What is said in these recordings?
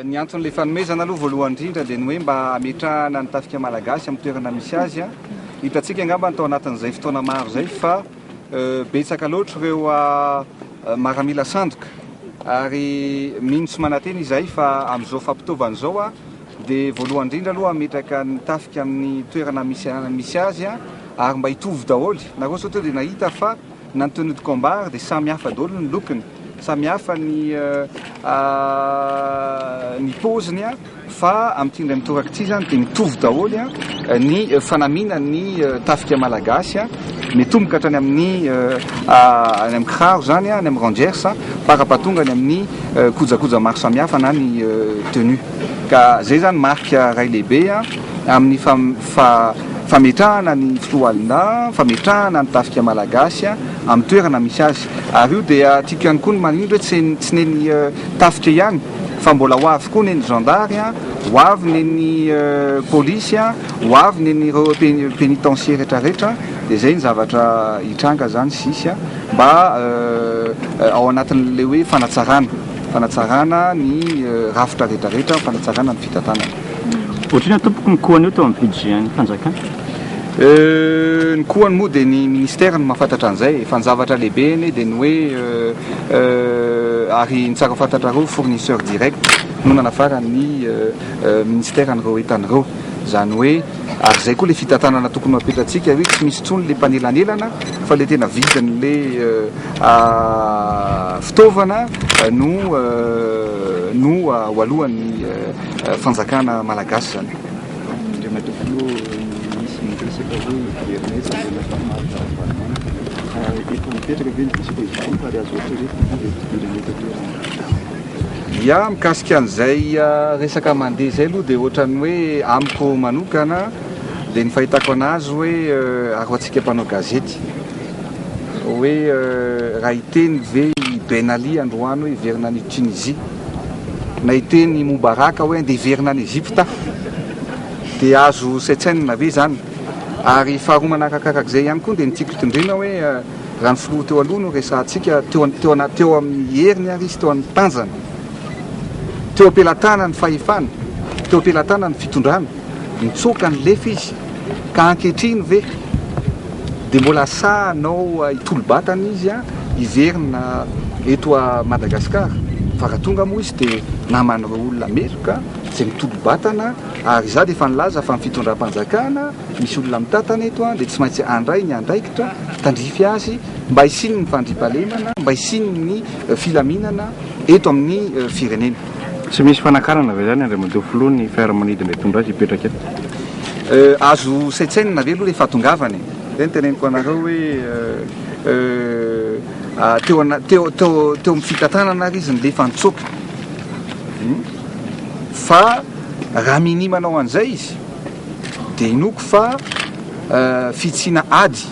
Ny anton'ilay fanomezana aloha voalohany indrindra dia ny hoe mba hametrahana ny tafika malagasy amin'ny toerana misy azy. Hitantsika angamba tao anatin'izay fotoana maro izay fa betsaka loatra ireo maramila sandoka ary mino sy manantena izahay fa amin'izao fampitaovana izao dia voalohany indrindra aloha hametraka ny tafika amin'ny toerana misy azy ary mba hitovy daholo nareo sao tonga dia nahita fa na ny tenue de combat ary dia samy hafa daholo ny lokony samy hafa ny ny paoziny Fa amin'ity indray mitoraka ity izany dia mitovy daholo ny fanamianan'ny tafika malagasy, mitomboka hatrany amin'ny any amin'ny kiraro izany, any amin'ny rangers, parapahatonga any amin'ny kojakoja maro samihafa na ny tenue. Ka izay izany marika iray lehibe amin'ny fametrahana ny foloalindahy, fametrahana ny tafika malagasy amin'ny toerana misy azy. Ary io dia tiako ihany koa ny manindry hoe tsy ny tafika ihany. Fa mbola ho avy koa neny zandary a, ho avy neny polisy a, ho avy neny ireo penitencier retraretra dia izay ny zavatra hitranga izany sisy a, mba ao anatin'ilay hoe fanatsarana, fanatsarana ny rafitra retraretra, fanatsarana ny fitantanana. Otrina tompoko ny koany io teo amin'ny budget ny fanjakana? Euh, ny koany moa dia ny ministère no mahafantatra an'izay fa ny zavatra lehibe anie dia ny hoe euh, ary ny tsara fantatrareo fournisseur direct no nanafaran'ny euh, ministère an'ireo entana ireo. Izany hoe ary izay koa ilay fitantanana tokony ho apetratsika hoe tsy misy intsony ilay mpanelanelana fa ilay tena vidin'ilay euh, fitaovana no euh, no alohan'ny euh, Fanjakana Malagasy izany. Andriamatoa Filoha, nisy niresaka hoe hiverina etsy Andriamatoa Marc Ravalomanana. Efa mipetraka ve ny vizita izy ity ary azo atao hoe fitia ilay fidirana eto an-toerana? Ya, mikasika an'izay resaka mandeha izay aloha dia ohatran'ny hoe amiko manokana dia ny fahitako an'azy hoe ary ho antsika mpanao gazety hoe raha hiteny ve i Ben Ali androany hoe hiverina any Tunisie? Nahiteny i Mubarak hoe andeha hiverina any Egypta, dia azo saintsainina ve izany? Ary faharoa manarakarak'izay ihany koa dia ny tiako hitondrena hoe raha ny filoha teo aloha no resahantsika, teo amin'ny heriny ary izy teo amin'ny tanjany, teo am-pelatanany ny fahefana, teo am-pelatanany ny fitondrana, nitsoaka, nilefa izy. Ka ankehitriny ve dia mbola asahanao hitolo-batana izy hiverina eto Madagascar? Fa raha tonga moa izy dia naman'ireo olona meloka izay mitolo-batana ary izaho dia efa nilaza fa ny fitondram-panjakana misy olona mitantana eto dia tsy maintsy handray ny andraikitra tandrify azy mba hisian'ny fandriampahalemana, mba hisian'ny filaminana eto amin'ny firenena. Tsy misy fanakarana ve izany Andriamatoa Filoha ny fiaramanidina hitondra azy hipetraka eto? Azo saintsainina ve aloha ilay fahatongavany e? Izay no teneniko anareo hoe teo ana, teo, teo, teo amin'ny fitantanana ary izy nilefa nitsoaka. Hum. Fa raha minia manao an'izay izy dia inoako fa fitsiana ady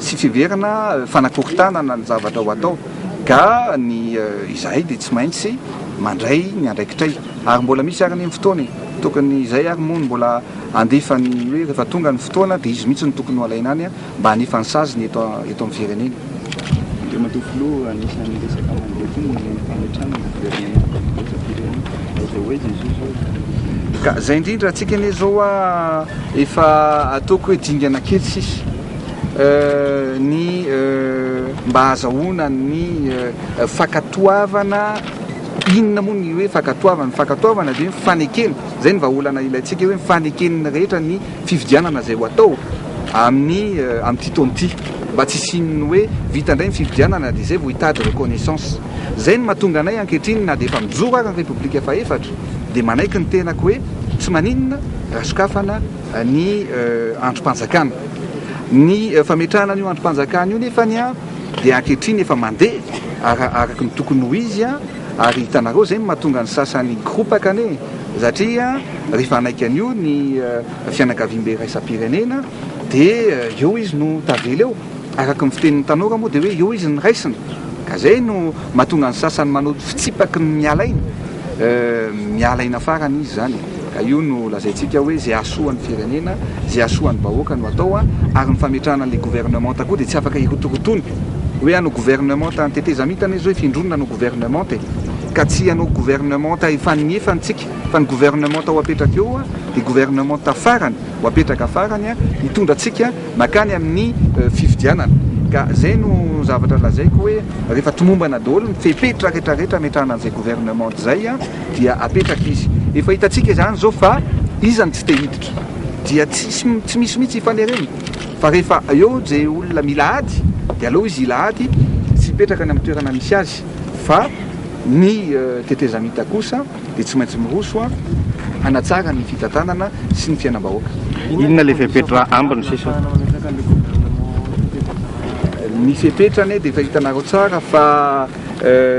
sy fiheverana fanakorontanana ny zavatra ho atao. Ka ny izahay dia tsy maintsy mandray ny andraikitray. Ary mbola misy ary anie ny fotoana e! Tokony izay ary moa no mbola handefa ny hoe rehefa tonga ny fotoana dia izy mihitsy no tokony ho alaina any mba hanefa ny saziny eto eto amin'ny firenena. Andriamatoa Filoha, anisan'ny resaka mandeha koa ny fametrahana ny governemanta iraisam-pirenena. Aiza ho aiza izao izao e? Ka izay indrindra, antsika anie izao efa ataoko hoe dingana kely sisa. ny mba hahazahoana ny fankatoavana, inona moa ny hoe fankatoavana? Ny fankatoavana dia ny fanekena, izay ny vahaolana ilaintsika hoe ny faneken'ny rehetra ny fifidianana izay ho atao amin'ny amin'ity taona ity, mba tsy hisian'ny hoe vita indray ny fifidianana dia izay vao hitady reconnaissance. Izay no mahatonga anay ankehitriny na dia efa mijoro ary ny Repoblika fahefatra dia manaiky ny tenako hoe tsy maninona raha sokafana ny andrim-panjakana. Ny fametrahana an'io andrim-panjakana io nefa ny dia ankehitriny efa mandeha araka ny tokony ho izy ary hitanareo izay no mahatonga ny sasany koropaka anie satria rehefa hanaiky an'io ny fianakaviambe iraisam-pirenena dia eo izy no tavela eo. Araka ny fitenin'ny tanora moa dia hoe eo izy ny raisina ka izay no mahatonga ny sasany manao fitsipaky ny miala aina, miala aina farany izy izany ka io no lazaintsika hoe izay hahasoan'ny firenena, izay hahasoan'ny vahoaka no atao ary ny fametrahana ilay governemanta koa dia tsy afaka hirotorotoana hoe hanao governemanta, ny tetezamita anie izao efindroa no nanao governemanta e! ka tsy hanao governemanta efa niefany tsika fa ny governemanta ho apetraka eo dia governemanta farany ho apetraka farany hitondra antsika Makany amin'ny fifidianana. Ka zay no zavatra lazaiko hoe rehefa tomombana daholo ny fepetra rehetra rehetra ametrahana an'izay gouvernement zay dia apetraka izy. Efa hitantsika izany zao fa iza no tsy te hiditra. Dia tsy misy mihitsy hifanerena. Fa rehefa eo izay olona mila ady dia aleo izy hila ady sy hipetraka any amin'ny toerana misy azy. Fa ny tetezamita kosa dia tsy maintsy miroso hanatsara ny fitantanana sy ny fiainam-bahoaka. Inona ilay fepetra ambiny sisa? Ny fepetra anie dia efa hitanareo tsara fa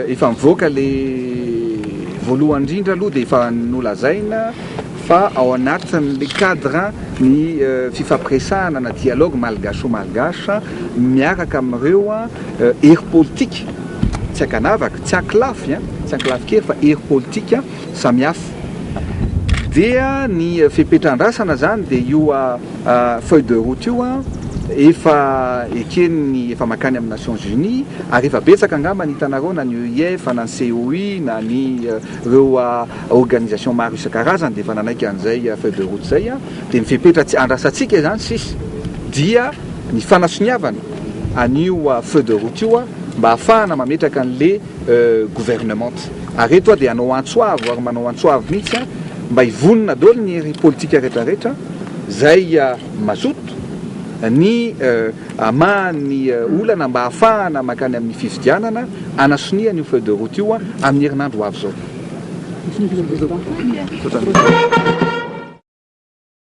efa mivoaka ilay voalohany indrindra aloha dia efa nolazaina fa ao anatin'ilay cadre ny fifampiresahana na dialogue malgacho-malgache miaraka amin'ireo hery politika. Tsy ankanavaka, tsy ankolafy an, tsy ankolafy kely fa hery politika samihafa. Dia ny fepetra andrasana zany dia io feuille de route io an, efa eken'ny, efa mankany amin'ny Nations Unies, ary efa betsaka angamba ny hitanareo na ny EIF na ny COI na ny ireo organisation maro isan-karazany dia efa nanaiky an'izay feuille de route izay an, dia ny fepetra andrasantsika izany sisa dia ny fanasoniavana. an'io feu de route io mba hahafahana mametraka an'le gouvernement ary eto aho dia hanao antso avo ary manao antso avo mihitsy mba hivonona daholo ny hery politika rehetra rehetra izay mazoto ny hamaha ny olana mba hahafahana mankany amin'ny fifidianana hanasonihana io feu de route io amin'ny herinandro ho avy izao.